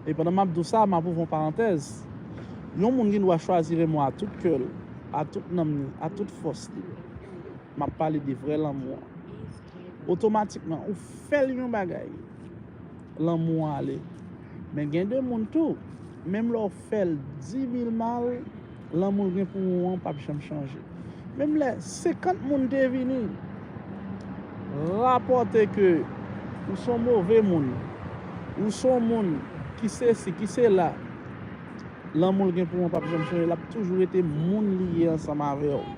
E pandan map di w sa, map ouvri yon parantèz, yon moun gen dwa chwazi Remo a tout kè l, a tout nanm li, a tout fòs li. Map pale de vrè lanmou an. Otomatikman ou fè l yon bagay, lanmou an ale. Men gen de moun tou, menm lè w fè l 10000 mal, Lanmou w gen pou ou an pap janm chanje. Menm lè 50 moun te vini rapòte ke ou son move moun, ou son moun ki sesi, ki sela, lanmou l gen pou ou an pap janm chanje. L ap toujou rete moun li ye ansanm avè w.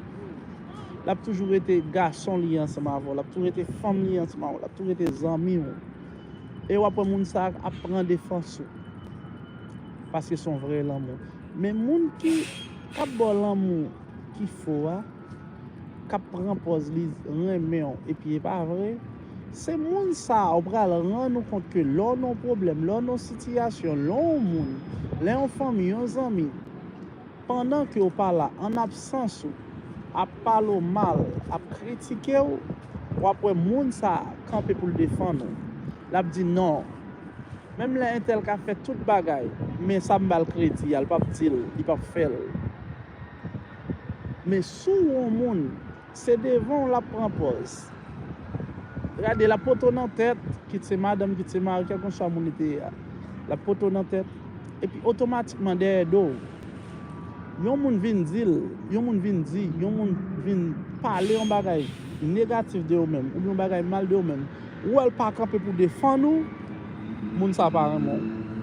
L ap toujou rete gason li ye ansanm avè w. L ap toujou rete fanm li ye ansanm avè w. L ap toujou rete zanmi w. E w ap wè moun sa a ap pran defans ou. Paske son vrè lanmou. Men moun ki kap baw lanmou ki fo a, kap pran pòz li renmenw epi e pa vre, se moun sa ou pral rann ou kont ke lè w nan yon pwoblèm, lè w nan yon sitiyasyon, lè w yon moun, lè yon fanmi, yon zanmi, pandan ke w pa la, an absans ou, ap pale w mal, ap kritike w, wap wè moun sa kanpe pou l defann ou. Lap di non. Menm lè entèl ka fè tout bagay men sa m bal kredi a l pap di l li pap fè l men si w on moun se devan w lap pran pòz gade lap pote w nan tèt kit se madanm kit se mari kèlkanswa moun li te ye a lap pote w nan tèt epi otomatikman dèyè do w yon moun vin di l yon moun vin di yon moun vin pale yon bagay negatif de ou menm oubyen yon bagay mal de ou menm. Ou wèl pa kanpe pou defann ou, moun sa pa renmen w.